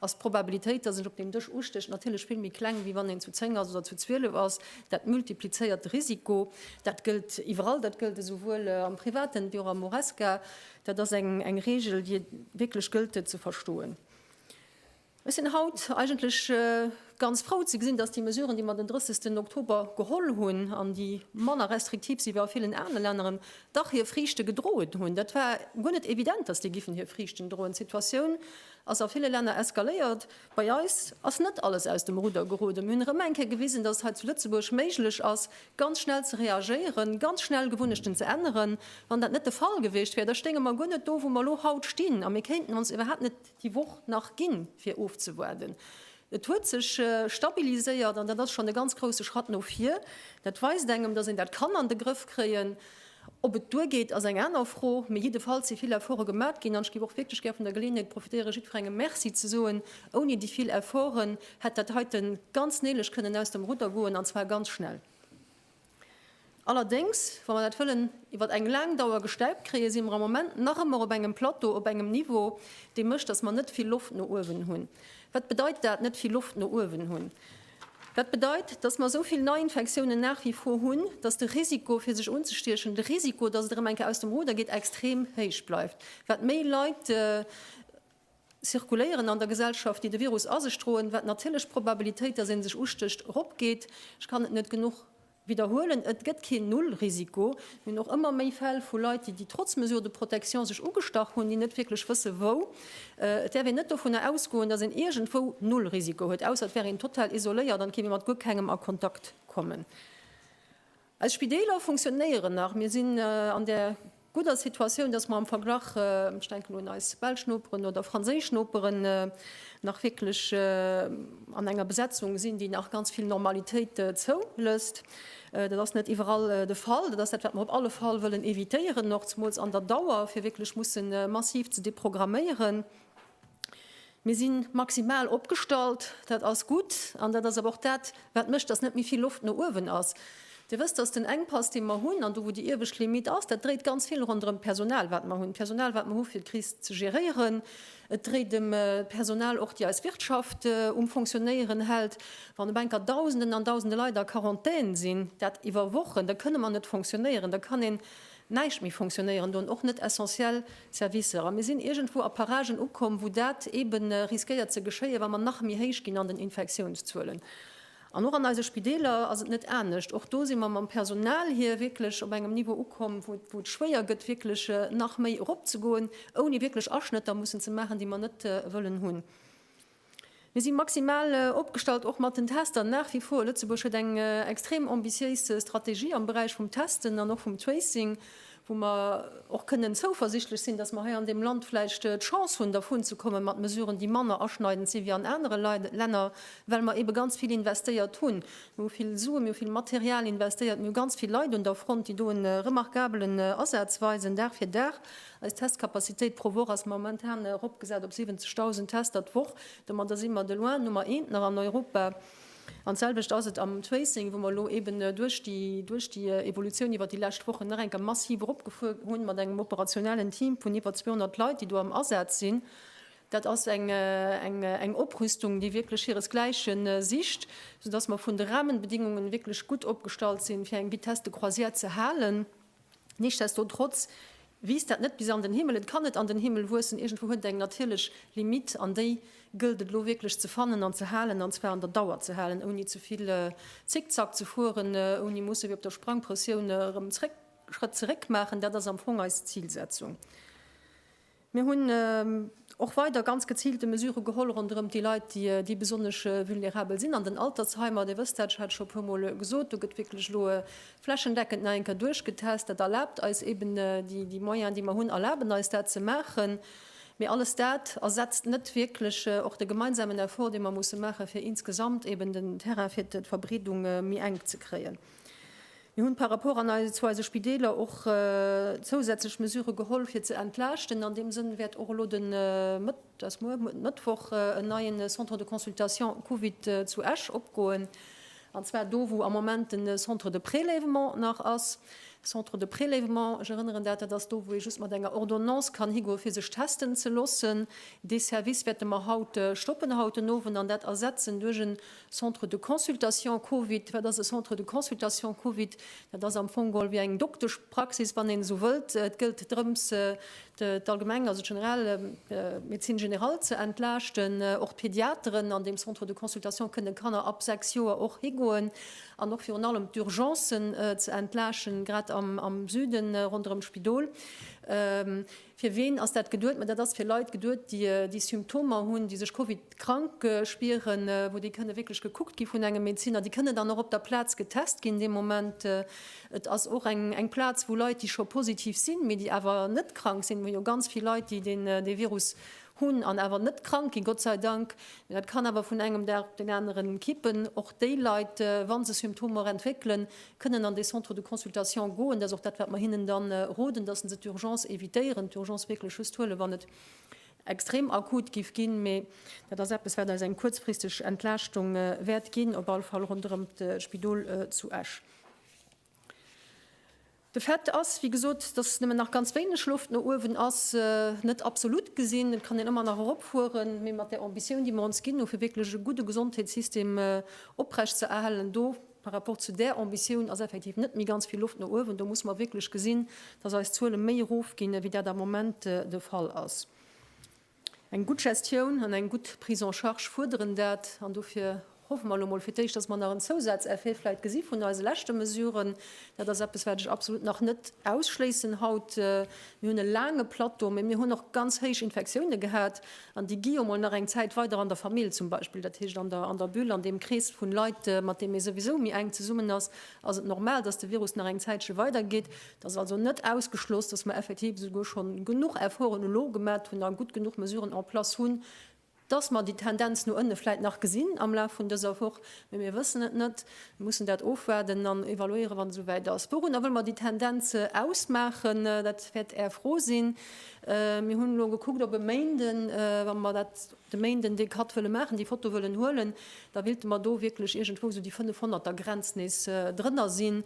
ass d'Probabilitéit, dass een op deem Dësch ustécht, natierlech vill méi kleng, wéi wann een zu zéng ass oder zu zwielef ass. Dat multiplizéiert de Risiko. Dat gëllt iwwerall. Dat gëllt esouwuel am Privaten wéi och am Horesca. Dat ass eng Reegel, déi wierklech gëllt, fir ze verstoen. Ech sinn haut eigentlech ganz frou ze gesinn, dass déi Mesuren, déi mer den 30 Oktober geholl hunn an déi manner restriktiv si wéi a villen anere Länneren, dach hir Friichte gedroen hunn. Dat war guer net evident, dass déi giffen hir Friichten droen. D'Situatioun ass a ville Länner eskaléiert. Bei eis ass net alles aus dem Rudder geroden. Mir hunn erëm eng Kéier gewisen, dass et hei zu Lëtzebuerg méiglech ass, ganz schnell ze reagéieren, ganz schnell Gewunnechten ze änneren. Wann dat net de Fall gewiescht wär, da stéinge mer guer net do, wou mer elo haut stinn, a mir kéinten ons iwwerhaapt net déi Woch nach ginn, fir ofzewaarden. Et huet sech stabiliséiert an dat ass schonn e ganz grousse Schratt no vir. Dat weist engem, dass een dat kann an de Grëff kréien. Ob et duergeet, ass eng aner Fro, mee jiddefalls si vill Efforte gemat ginn. An ech géif och wierklech gär vun der Geleeënheet profitéieren, jiddwerengem Merci ze soen. Ouni déi vill Efforten hätt dat heiten ganz néilech kënnen aus dem Rudder goen, an zwar ganz schnell. Allerdéngs, wa mer dat wëllen iwwer eng laang Dauer gestemmt kréien, si mer am Moment nach ëmmer op engem Plateau, op engem Niveau, dee mécht, dass mer net vill Loft no uewen hunn. Wat bedeit dat, net vill Loft no uewen hunn? Dat bedeit, dass mer esou vill Neiinfektiounen nach wie vor hunn, dass de Risiko, fir sech unzestiechen, de Risiko, dass et erëm eng Kéier aus dem Ruder geet, extrem héich bleift. Wat méi Leit. zirkuléieren an der Gesellschaft, déi de Virus a sech droen, wat natierlech d'Probabilitéit, dass ee sech ustécht, eropgeet. Ech kann et net genuch widderhuelen, Et gëtt keen Nullrisiko. Mir hunn och ëmmer méi Fäll vu Leit, déi, déi trotz Mesures de protection sech ugestach hunn, déi net wierklech wësse wou. Et däerf een net dovunner ausgoen, dass een iergendwou Nullrisiko huet, ausser et wär een total isoléiert an et géif ee mat guer kengem a Kontakt kommen. Eis Spideeler funktionéieren nach. Mir sinn an där gudder Situatioun, dass mer am Verglach, ech denken un eis belsch Noperen oder franséisch Noperen, nach wierklech an enger Besetzung sinn, déi nach ganz vill Normalitéit zoulësst. Dat ass net iwwerall de Fall. Dat ass dat, wat mer op alle Fall wëllen evitéieren, och zemools an der Dauer, fir wierklech mussen massiv ze deprogramméieren. Mir si maximal opgestallt, dat ass gutt. An dat ass awer och dat, wat mécht, datt net méi vill Loft no uewen ass. Dir wësst, datt den Enkpass, dee mer hunn, an do, wou déi iewescht Limitt ass, dat dréit ganz vill ronderëm d'Personal, wat mer hunn, d'Personal, wat mer hu fir d'Kris ze geréieren. Et dréit ëm d'Personal och, déi eis Wirtschaft um Fonctionéieren hält. Wann op eng Kéier Dausenden an Dausende Leit a Quarantän sinn, dat iwwer Wochen, da kënne mer net fonctionéieren. Da kann een näischt méi fonctionnéieren do, och net essentiell Servicer. A mir sinn iergendwou a Paragen ukomm, wou dat eebe riskéiert ze geschéien, wa mer nach méi héich ginn an den Infektiounszuelen. An och an eise Spideeler ass et net anescht. Och do si mer mam Personal hier wierklech op engem Niveau ukomm, wou et schwéier gëtt, wierklech nach méi eropzegoen, ouni wierklech Aschnëtter mussen ze maachen, déi mer net wëllen hunn. Mir si maximal opgestallt, och mat den Tester nach wie vor. Lëtzebuerg huet eng extrem ambitiéis Strategie am Beräich vum Testen an och vum Tracing, wou mer och kënnen zouversichtlech sinn, dass mer hei an deem Land vläicht d'Chance hunn, dervun ze kommen, mat Mesuren, déi manner aschneidend sinn wéi an anere Länner, well mer eebe ganz vill investéiert hunn. Mir hu vill Sue, mir hu vill Material investéiert, mir hu ganz vill Leit un der Front, déi do e remarkabelen Asaz weisen, Dag fir Dag. Eis Testcapacitéit pro Woch ass momentan eropgesat op 70.000 Tester d'Woch. Domadder si mer de loin Nummer eent nach an Europa. An d'selwecht ass et am Tracing, wou mer elo eben duerch déi, duerch déi Evolutioun iwwert déi lescht Wochen nach eng Kéier massiv eropgefuer hunn, mat engem operationellen Team vun iwwer 200 Leit, déi do am Asaz sinn. Dat ass eng, eng, eng Oprüstung, déi wierklech hiresgläiche sicht, soudass mer vun de Rahmenbedingungen wierklech gutt opgestallt sinn, fir eng Vitesse de croisière ze halen. Nichtsdestotrotz wiisst dat net bis an den Himmel, et kann net an den Himmel wuessen, iergendwou huet et eng natierlech Limite an déi gëllt et elo wierklech ze fannen an ze halen, an zwar an der Dauer ze halen, ouni ze vill Zickzack ze fueren, ouni musse wéi op der Sprangpressioun erëm Schrëtt zeréck maachen. Dat ass am Fong eis Zilsetzung. Mir hunn och weider ganz geziilte Mesure geholl ronderëm déi Leit, déi besonnesch vulnerabel sinn an den Altersheimer. Dir wësst dat, ech hat et scho e puer Mol gesot, do gëtt wierklech elo flächendeckend nach eng Kéier duerchgetest. Dat erlaabt eis eeben, déi Moyens, déi mer hunn, erlaben eis dat ze maachen. Mee alles dat ersetzt net wierklech och de gemeinsamen Effort, dee mer musse maachen, fir insgesamt eeben den Terrain fir d'Verbreedung méi enk ze kréien. Mir hunn par rapport an eis zu eise Spideeler och zousätzlech Mesurë geholl fir ze entlaaschten. An deem Sënn wäert och elo de Mëtt, dat ass muer, muer de Mëttwoch, en neien Centre de consultation Covid zu Esch opgoen, an zwar do wou am Moment den Centre de prélèvement nach ass. Centre de prélèvement, ech erënneren dat, dat ass do wou ee just mat enger Ordonnance kann higoe fir sech testen ze loossen. Dee Service wäerte mer haut stoppen, haut den Owend, an dat ersetzen duerch en Centre de consultation Covid, wat ass e Centre de consultation Covid? Dat ass am Fong geholl wéi eng Dokteschpraxis, wann een esou wëllt. Et gëllt drëms, d'Allgemeng, also d'General, d'Médecine générale ze entlaaschten. Och d'Pediateren an deem Centre de consultation kënnen Kanner ab 6 Joer och higoen. An och virun allem d'Urgencen ze entlaaschten, grad am Süden ronderëm d'Spidol. Fir ween ass dat geduet? Mä dat ass fir Leit geduet, déi déi Symptomer hunn, déi sech Covid-krank spieren, wou déi kënne wierklech gekuckt gi vun engem Medeziner. Déi kënne dann och op der Plaz getest ginn dee Moment. Et ass och eng Plaz, wou Leit, déi scho positiv sinn, mee déi awer net krank sinn, wou jo ganz vill Leit, déi dee Virus hunn an awer net krank ginn, Gott sei Dank, mee dat kann awer vun engem Dag op deen aneren kippen, och déi Leit, wa se Symptomer entwéckelen, kënnen an dee Centre de consultation goen, dat ass och dat, wat mer hinnen da roden, dass se d'Urgence évitéieren, d'Urgence wierklech just huelen, wann et extrem akut géif ginn. Mee dat ass eppes, wat eis eng kuerzfristeg Entlaaschtung wäert ginn, op alle Fall ronderëm d'Spidol zu Esch. De Fait ass, wéi gesot, dass nëmmen nach ganz wéineg Loft no uewen ass. Net absolut gesinn, et kann een ëmmer nach eropfueren, mee mat där Ambitioun, déi mer ons ginn hu fir wierklech e gudde Gesondheetssystem oprechtzeerhalen, do Par rapport zu där Ambitioun ass effektiv net méi ganz vill Loft no uewen. Do musse mer wierklech gesinn, dass eis Zuele méi erofginn, wéi dat am Moment de Fall ass. Eng gutt Gestioun an eng gutt Prise en charge fuerderen dat. An dofir hoffe mer elo emol fir d'éischt, dass mer nach en Zousazeffet vläicht gesi vun eise leschte Mesuren. Dat ass eppes, wat ech absolut nach net ausschléissen haut. Mir hunn e laange Plateau, mä mir hunn och ganz héich Infektioune gehat. An déi gi jo mol nach eng Zäit weider an der Famill zum Beispill, dat heescht an der an der Bulle, an deem Krees vun Leit, mat deem ee souwisou méi enk zesummen ass, ass et normal, dass de Virus nach eng Zäitche weider geet. Et ass also net ausgeschloss, dass mer effektiv esouguer schonn genuch Efforten elo gemat hunn a gutt genuch Mesuren en place hunn, dass mer déi Tendenz no ënne vläit nach gesinn am Laf vun dëser Woch. Mee mir wëssen et net, mir mussen dat ofwaarden an evaluéieren, wann et esouwäit ass. Wourunner wëlle mer déi Tendenz ausmaachen? Dat wäert Är Fro sinn. Mir hunn elo gekuckt, ob e Méinden, wa mer dat de Méinden dee Cut wëlle maachen, déi Foto wëllen huelen, da willte mer do wierklech iergendwou esou déi 500 der Grenz nees drënner sinn.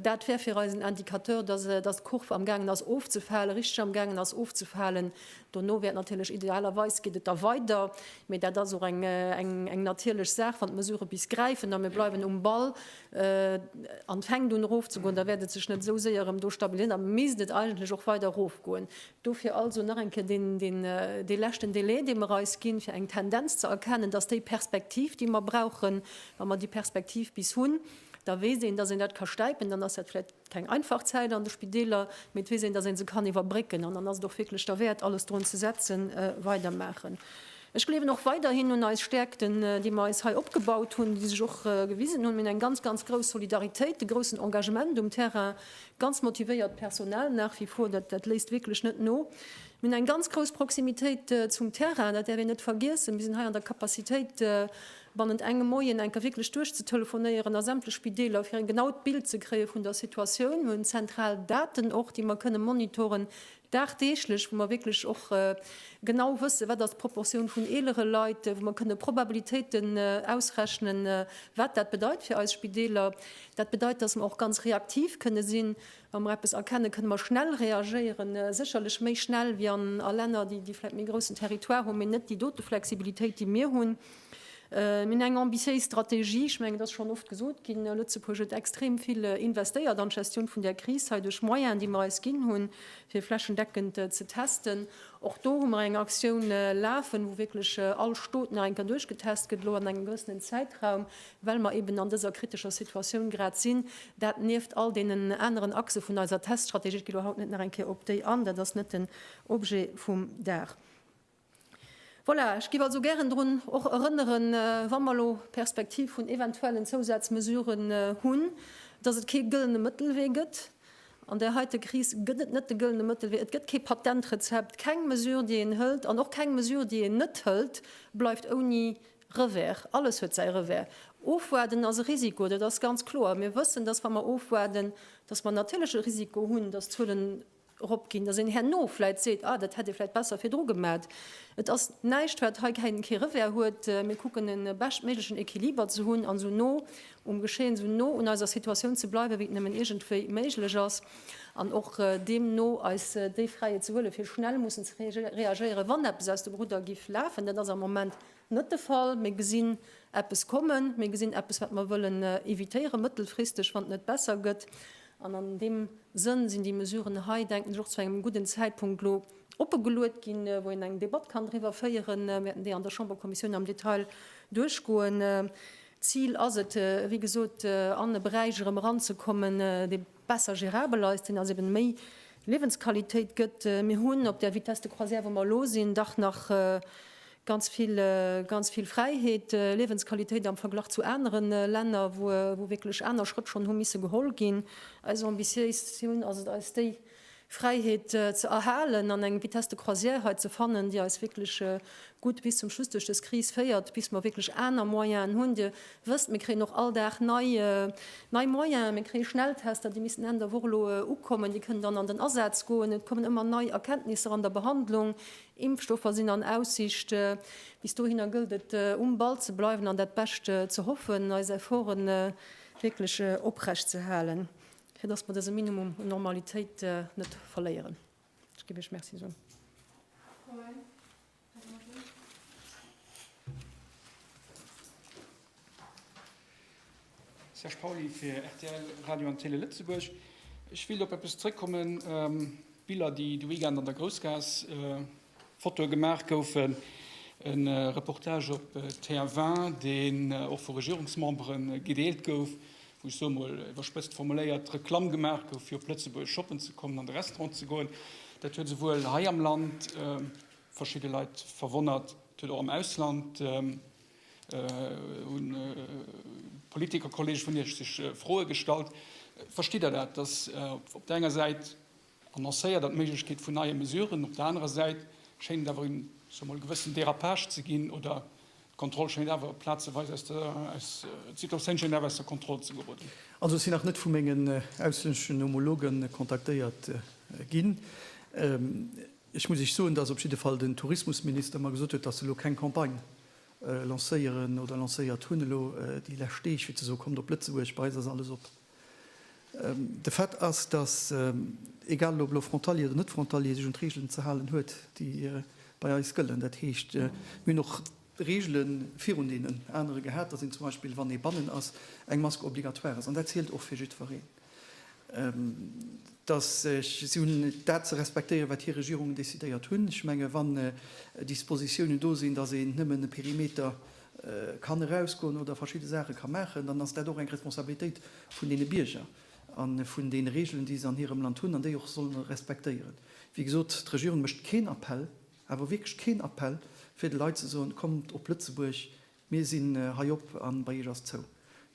Dat wär fir eis en Indicateur, dass dass d'Kurv am gaangen ass ofzefalen, richteg am gaangen ass ofzefalen. Dono wäert natierlech idealerweis geet et da weider, mee dat ass och eng natierlech Saach, wann d'Mesurë bis gräifen a mir bleiwen um Ball, an fänkt un erof ze goen, da wäert et sech net esou séier erëm do stabiliséieren, da misst et eigentlech och weider erof goen. Dofir also nach eng Kéier deen, deen, dee leschten Délai, dee mer eis ginn, fir eng Tendenz ze erkennen, dass déi Perspektiv, déi mer brauchen, wa mer déi Perspektiv bis hunn, da weess een, dass een dat ka stäipen, dann ass dat vläicht, Keng einfach Zäit an de Spideeler, mee et weess een, datt ee se kann iwwerbrécken. An dann ass et och wierklech derwäert, alles drun ze setzen, weidermaachen. Ech gleewen och weiderhin un eis Stäerkten, déi mer eis hei opgebaut hunn, déi sech och gewisen hunn. Mir hunn eng ganz, ganz grouss Solidaritéit, de groussen Engagement um Terrain, ganz motivéiert Personal nach wie vor, dat léisst wierklech net no. Mir hunn eng ganz grouss Proximitéit zum Terrain, dat däerf een net vergiessen. Mir sinn hei an der Capacitéit, Bannent engem Moien enker wierklech duerchzetelefonéieren a sämtlech Spideeler, fir en genaut Bild ze kréie vun der Situatioun. Mir hunn zentral Daten och, déi mer kënne monitoren dagdeeglech, wou mer wierklech och genau wësse wat ass d'Proportioun vun eelere Leit, wou mer kënne Probabilitéiten ausrechnen, wat dat bedeit fir eis Spideeler. Dat bedeit, datt mer och ganz reaktiv kënne sinn. Wa mer eppes erkenne kënne mer schnell reagéieren, sécherlech méi schnell wéi a Länner, déi vläicht méi groussen Territoire hunn, mee net déi dote Flexibilitéit, déi mir hunn. Mir hunn eng ambitiéis Strategie. Ech mengen, et ass schonn oft gesot ginn, Lëtzebuerg huet extrem vill investéiert an d'Gestioun vun där Kris hei duerch Moyenen, déi mer eis ginn hunn, fir flächendeckend ze testen. Och do hu mer eng Aktioun lafen, wou wierklech all Stot nach eng Kéier duerchgetest gëtt, elo an engem gewëssenen Zäitraum, well mer eeben an dëser kritescher Situatioun grad sinn. Dat nieft all deenen aneren Achse vun eiser Teststrategie. Ech gi elo haut net nach eng Kéier op déi an, dat ass net den Objet vum Dag. Voilà, ech giff also gären drun och erënneren, wa mer elo d'Perspektiv vun eventuellen Zousazmesuren hunn, dass et kee gëllene Mëttelwee gëtt. An där heite Kris gëtt et net de gëllene Mëttelwee. Et gëtt kee Patentrezept. Keng Mesure, déi een hëlt, an och keng Mesure, déi een net hëlt, bleift ouni Revers. Alles huet säi Revers. Ofwaarden ass e Risiko, dat ass ganz kloer. Mir wëssen, dass wa mer ofwaarden, dass mer natierlech e Risiko hunn, dass d'Zuelen eropginn, datt een herno vläit seet, ah dat hätt ee vläit besser virdru gemat. Et ass näischt wat hei keng kee Revers huet. Mir kucken e beschtméiglechen Equiliber ze hunn an esou no um Geschehen, esou no un eiser Situatioun ze bleiwen, wéi et nëmmen iergendwéi méiglech ass an och deemno eis déi Fräiheet ze huelen, fir schnell mussen ze reagéieren, wann eppes aus dem Rudder giff lafen. Dat ass am Moment Net de Fall. Mir gesinn eppes kommen. Mir gesinn eppes, wat mer wëllen evitéieren, mëttelfristeg, wann et net besser gëtt. An an deem Sënn sinn déi Mesuren hei, denken ech, och zu engem gudden Zäitpunkt elo opegeluet ginn, wou een eng Debatt kann driwwer féieren. Mir wäerten déi an der Chamberkommissioun am Detail duerchgoen. D'Zil ass et, wéi gesot, an e Beräich erëm eranzekommen, dee, besser gérabel ass, deen also eben méi Liewensqualitéit gëtt. Mir hunn op där Vitesse de croisière wou mer elo sinn dach nach ganz vill, ganz vill Fräiheet, Liewensqualitéit am Verglach zu anere Länner wou wou wierklech aner Schrëtt schonn hu misse geholl ginn. Eis Ambitiéis hunn ass et eis déi Fräiheet ze erhalen an eng Vitesse de croisière hei ze fannen, déi eis wierklech gutt bis zum Schluss duerch dës Kris féiert, bis mer wierklech aner Moyenen hunn. Dir wësst, mir kréien och all Dag nei Moyenen. Mir kréie Schnelltester, déi missten Enn der Woch elo ukommen, déi kënnen dann an den Asaz goen. Et kommen ëmmer nei Erkenntnisser an der Behandlung. Impfstoffer sinn an Aussicht. Bis dohinner gëllt et, um Ball ze bleiwen an dat Bescht ze hoffen, eis Efforte wierklech oprecht ze halen. fir dass mer dëse Minimum un Normalitéit net verléieren. Ech géif Iech Merci soen. Serge Pauly fir rtl Radio an Télé Lëtzebuerg. Ech wéilt op eppes zréckkommen, Biller, déi de Weekend an der Groussgaass Fotoe gemaach goufen. E Reportage op TF1, deen och vu Regierungsmembere gedeelt gouf, wou, ech soe mol iwwerspëtzt formuléiert, Reklamm gemaach gouf, fir op Lëtzebuerg shoppen ze kommen, an de Restaurant ze goen. Dat huet esouwuel hei am Land verschidde Leit verwonnert, et huet och am Ausland u Politikerkolleege vun Iech sech Froe gestallt. Verstitt Der dat, datt op der enger Säit Annoncéiert an d'Méiglechkeet vun neie Mesuren. Op der anerer Säit schéint et awer een, ech soe mol, gewëssen Dérapage ze ginn, oder d'Kontroll schéint awer plazeweis aus der, d'Situatioun schéint awer aus der Kontroll ze geroden. Also ech sinn nach net vu mengen auslänneschen Homologe kontaktéiert ginn. Ech muss Iech soen, dass op jidde Fall den Tourismusminister mer gesot huet, dass se elo keng Campagne lancéieren oder lancéiert hunn elo déi lescht Deeg, fir ze soen, Kommt op Lëtzebuerg, bei eis ass alles op. De Fait ass, datt, egal ob elo Frontalier oder net Frontalier, sech un d'Reegelen ze halen huet, déi bei eis gëllen. Dat heescht, mir hunn och Reegele virun deenen anere gehat, datt een zum Beispill, wann ee bannen ass, eng Mask obligatoire ass. An dat zielt och fir jiddwereen. Datt si hunn dat ze respektéieren, wat hir Regierungen decidéiert hunn. Ech menge wann Dispositiounen do sinn, datt een nëmmen e Perimeter kann erausgoen oder verschidde Saache ka maachen, dann ass dat och eng Responsabilitéit vun deene Bierger a vun deene Regeln, déi se an hirem Land hunn an déi och solle respektéieren. Wéi gesot, d'Regierung mécht keen Appell, awer wierklech keen Appell, fir de Leit ze soen, Kommt op Lëtzebuerg, mir sinn hei op a bei Iech ass zou.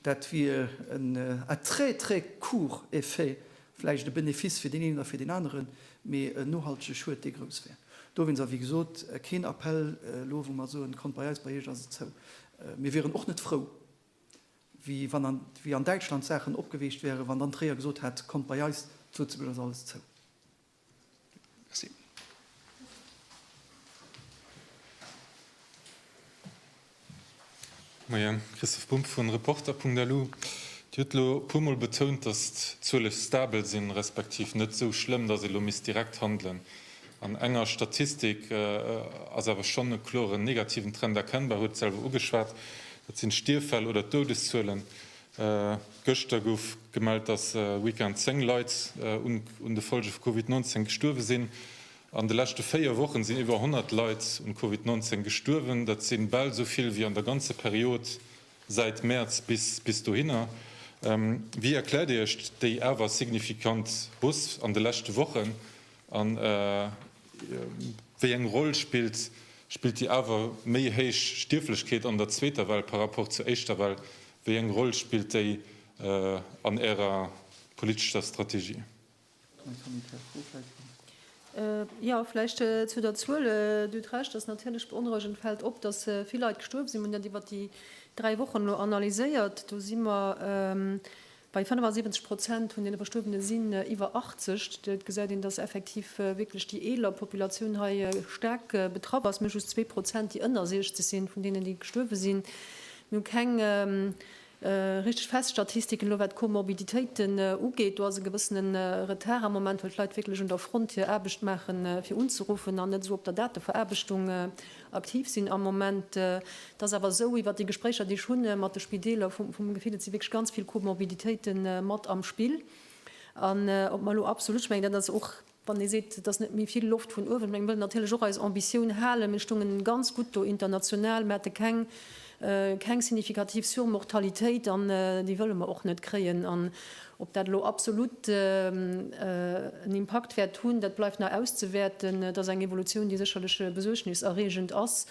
Dat wier en à très, très court effet, vläicht e Benefice fir deen een oder fir deen aneren, mee en nohaltege Schued, dee grouss wär. Dowéinst, a wéi gesot, keen Appell elo, wou mer soen, kommt bei eis, bei Iech ass et zou. Mir wieren och net frou, wéi wann an, wéi an Däitschland d'Saachen opgeweecht wäeren, wann dann Tréier gesot hätt, kommt bei eis, zu Lëtzebuerg ass alles zou. Moien, Christoph Bumb vu Reporter.lu. Dir hutt elo e puermol betount, datt d'Zuele stabel sinn, respektiv net esou schlëmm, datt ee elo misst direkt handelen. An enger Statistik ass awer schonn e kloren negativen Trend erkennbar, huet et selwer ugeschwat, dat sinn d'Stierffäll oder d'Doudeszuelen. Gëschter gouf gemellt, dass e Weekend 10 Leit un de Follge vu Covid 19 gestuerwe sinn. An de leschte 4 Wochen sinn iwwer 100 Leit un Covid 19 gestuerwen. Dat si bal esou vill wéi an der ganze Period säit Mäerz bis dohinner. Wéi erkläert Dir Iech déi awer signifikant Hausse an de leschte Wochen? A wéi eng Roll spillt spillt déi awer méi héich Stierflechkeet an der zweeter Well par rapport zur éischter Well? Wéi eng Roll spillt déi an Ärer politescher Strategie? Jo, vläicht zu der Zuel, Dir hutt Recht, dass natierlech beonrouegend fält op, dass vill Leit gestuerwen sinn. Mir hunn dat iwwert déi dräi Wochen elo analyséiert. Do si mer Bei 75 Prozent vun den Verstuerwene sinn iwwer 80. Et gesäit een, dass effektiv wierklech déi eeler Populatioun hei staark betraff ass. Mir hu just zwee Prozent, déi ënner 60 sinn, vun deenen, déi gestuerwe sinn. Mir hu keng richteg fest Statistiken elo, wat d'Komorbiditéiten ugeet. Do ass e gewëssene Retard am Moment, well d'Leit wierklech un der Front hir Aarbecht maachen, fir unzeruffen, an net esou op der Dateveraarbechtung. Aktiv sinn am Moment. Et ass awer esou, iwwert déi Gespréicher, déi ech hu mat de Spideeler, vu mengem Gefill, et si wierklech ganz vill Komorbiditéite mat am Spill. An ob mer elo absolutt, ech mengen dat ass och, wann ee seet, et ass net méi vill Loft vun uewen, ech menge mir wëllen natierlech och eis Ambitioun halen, mir stoungen ganz gutt do international, mir hate keng Keng signifikativ Surmortalitéit an déi wëlle mer och net kréien. An ob dat elo absolut en Impakt wäert hunn, dat bleift nach auszewäerten. Et ass eng Evolutioun, déi sécherlech besuergniserreegend ass.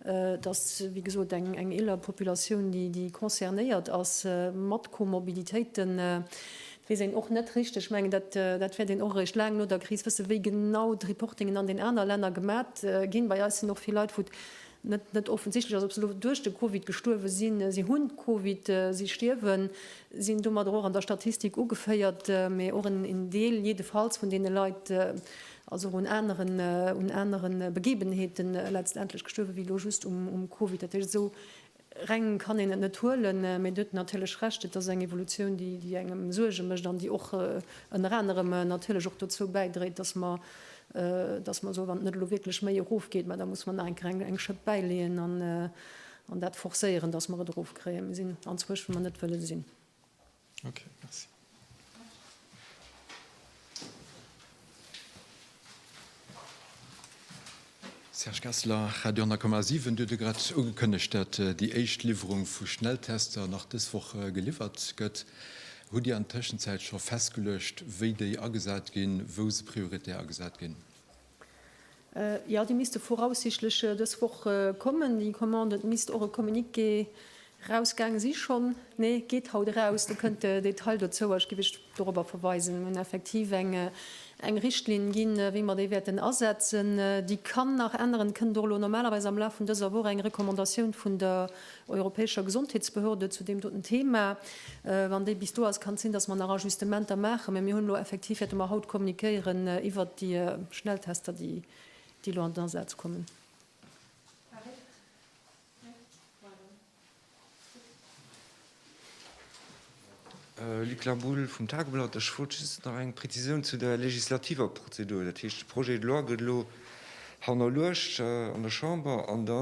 Et ass wéi gesot eng eeler Populatioun, déi concernéiert ass, mat Komorbiditéiten. Et weess een och net richteg, ech mengen dat wäert een och eréischt laang no der Kris wëssen, wéi genau d'Reportingen an den aner Länner gemat ginn. Bei eis sinn och vill Leit, wou net net offensichtlech ass, ob se elo duerch de Covid gestuerwe sinn, si hunn d'Covid, si stierwen, sinn domadder och an der Statistik ugeféiert, mä och en en Deel jiddefalls vun deene Leit ass och un aneren un anere Begebenheete letztendlech gestuerwe wéi elo just um um Covid. Dat heescht, esou reng kann een et net huelen, mä Dir hutt natierlech Recht, et ass eng Evolutioun, déi déi engem Suerge mécht an déi och ënner anerem natierlech och dozou bäidréit, datt mer dass mer soen, wann et net elo wierklech méi erofgeet, mä da muss mer nach eng Kéier eng Schëpp bäileeën an dat forcéieren, dass mer et erofkréien. Mir sinn anzwësch, wou mer net wëlle sinn. Okay, merci. Serge Kessler, Radio 10,7, Dir hutt grad ugekënnegt, datt déi éischt Liwwerung vu Schnelltester nach dës Woch geliwwert gëtt. Hutt Dir an der Tëschenzäit scho festgeluecht, wéi déi agesat ginn, wou se prioritär agesat ginn? Jo, déi misste voraussichtlech dës Woch kommen, déi Commande. Et misst och e Communiqué Raus gaange si schonn? Nee, geet haut eraus, do kënnt de Detail dozouer. Ech géif Iech dorobber verweisen. Mir hunn effektiv eng Richtlinn ginn, wéi mer déi wäerten asetzen. Déi kann nach änneren. Et kënnt och elo normalerweis am Laf vun dëser Woch eng Recommandatioun vun der europäescher Gesondheetsbehörde zu deem doten Thema. Wann déi bis do ass, kann et sinn, dass mer nach Ajustementer maachen. Mä mir hunn elo effektiv, wäerte mer haut kommuniquéieren iwwert déi Schnelltester, déi elo an den Asaz kommen. Luc Laboule vum Tageblatt, Ech wollt just nach eng Präzisioun zu der legislativer Prozedur. Dat heescht, de Projet de loi gëtt elo hannerluecht an der Chamber an da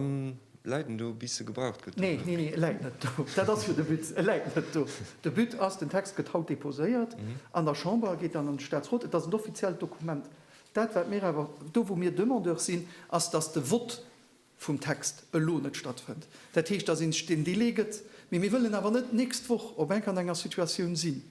läit en do bis e gebraucht gëtt? Nee, nee, nee, e läit net do, dat ass jo de Witz, e läit net do. De But ass, den Text gëtt haut deposéiert an der Chamber, geet dann an de Staatsrot, et ass en offiziellt Dokument. Dat wat mir awer, do wou mir Demandeur sinn, ass, datt de Vott vum Text elo net stattfënnt. Dat heescht, dass ee sech deen Delai gëtt. Mee mir wëllen awer net d'nächst Woch op enk an enger Situatioun sinn,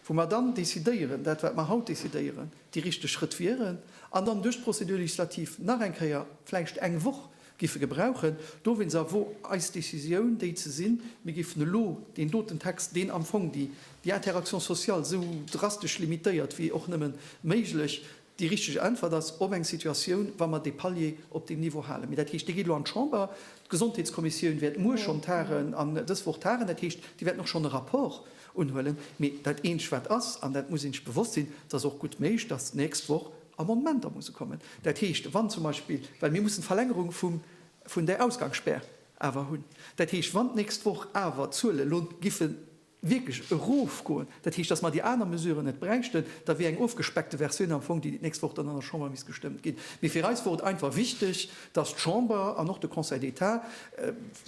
wou mer dann decidéieren, dat wat mer haut decidéieren, déi richteg Schrëtt wieren, an dann duerch d'Procédure législative nach eng Kéier vläicht eng Woch géife gebrauchen. Dowéinst awer wor eis Décisioun déi ze sinn, mir géifen elo deen doten Text, deen am Fong déi Interaction sociale esou drastesch limitéiert wéi och nëmme méiglech, Déi richteg Äntwert ass op eng Situatioun, wa mer dee Palier op deem Niveau halen. Mee dat heescht, dee geet elo an d'Chamber. D'Gesondheetskommissioun wäert muer schonn tagen an dës Woch tagen. Dat heescht, déi wäerten och schonn e Rapport unhuelen. Mee dat Eenzegt, wat ass, an dat muss ee sech bewosst sinn, et ass och gutt méiglech, dass d'nächst Woch Amendementer musse kommen. Dat heescht, wann zum Beispill, well mir mussen d'Verlängerung vum, vun där Ausgangsspär awer hunn, dat heescht, wann d'nächst Woch awer d'Zuele lo giffen, wierklech erofgoen, dat heescht, datt mer déi aner Mesuren net bräichten, da wier eng ofgespeckte Versioun am Fong déi, déi d'nächst Woch dann an der Chamber misst gestëmmt ginn. Mee fir eis wor et einfach wichteg, datt d'Chamber an och de Conseil d'État,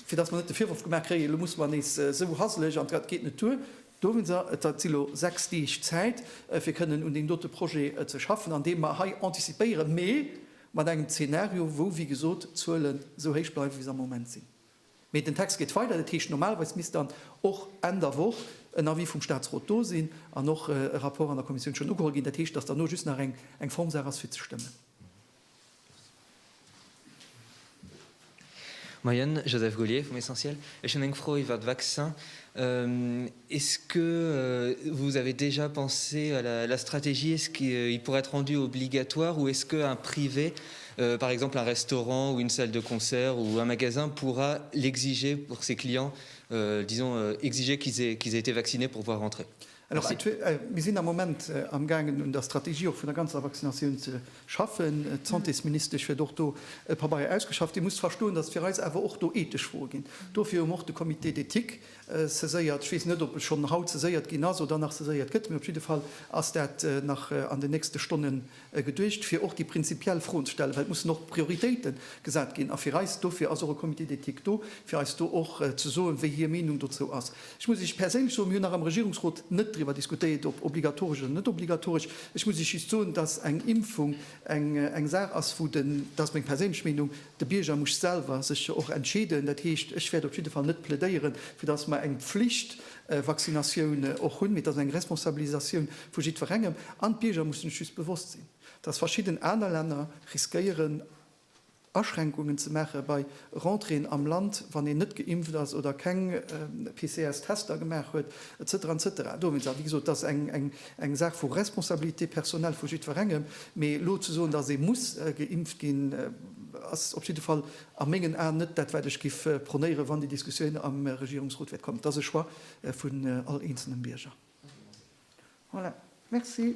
fir datt mer net de Virworf gemaach kréien, elo musse mer nees esou haselig an dat geet net duer. Do hu se, et si elo sechs Deeg Zäit, fir kënnen un deem dote Projet ze schaffen, andeem mer hei anticipéieren, mee mat engem Zeenario, wou, wéi gesot, d'Zuelen esou héich bleiwen, wéi se am Moment sinn. Mee den Text geet weider. Dat heescht, normalerweis misst dann och Enn der Woch en Avis vum Statsrot do sinn an och e Rapport an der Kommissioun schonn ugeholl ginn. Dat heescht, dass dann elo just nach eng Formsaach ass, fir ze stëmmen. Moien, Joseph Gaulier vum Essentiel. Ech hunn eng Fro iwwert d'Vaccin. Est-ce que vous avez déjà pensé à la la stratégie, est-ce qu'il pourrait être rendu obligatoire ou est-ce qu'un privé, par exemple un restaurant ou une salle de concert ou un magasin pourra l'exiger pour ses clients, disons exiger qu'ils aient qu'ils aient été vaccinés pour pouvoir rentrer? Alors Merci. Mir sinn am Moment amgaangen un der Strategie och vun der ganzer Vaccinatioun ze schaffen. D'Santésministesch huet och do e Pabeier ausgeschafft. Dir musst verstoen, datt fir eis awer och do ethesch Froe ginn. Dofir hu mer och de Comité d'éthique Saiséiert, ech weess net ob e schonn haut saiséiert ginn ass oder nach saiséiert gëtt, mee op jidde Fall ass dat nach an den nächste Stonne geduecht, fir och déi prinzipiell Froen ze stellen, well et mussen och Prioritéite gesat ginn a fir eis, dofir ass och e Comité d'éthique do, fir eis do och ze soen, wéi hir Meenung dozou ass. Ech muss Iech perséinlech soen, mir hunn nach am Regierungsrot net driwwer diskutéiert, ob obligatoresch oder net obligatoresch. Ech muss Iech just soen, dass eng Impfung eng Saach ass, wou den, dat ass meng perséinlech Meenung, De Bierger muss selwer sech jo och entscheeden. Dat heescht, ech wäert op jidde Fall net plädéiere fir datt mer eng Pflichtvaccinatioun och hunn, mee et ass eng Responsabilisatioun vu jiddwerengem. An d'Bierger musse sech just bewosst sinn, datt verschidden aner Länner riskéieren Aschränkungen ze maache bei Rentréeën am Land, wann een net geimpft ass oder keng PCR-Tester gemaach huet, et cetera, et cetera. Dowéinst, a wéi gesot, et ass eng. Eng Saach vu Responsabilité personnelle vu jiddwerengem, mee elo ze soen, dass ee muss geimpft ginn, ass op jidde Fall a mengen Aen net dat, wat ech giff prônéieren, wann déi Diskussioun am Regierungsrot wäert kommen. Et ass e Choix vun all eenzelnem Bierger. Voilà. Merci.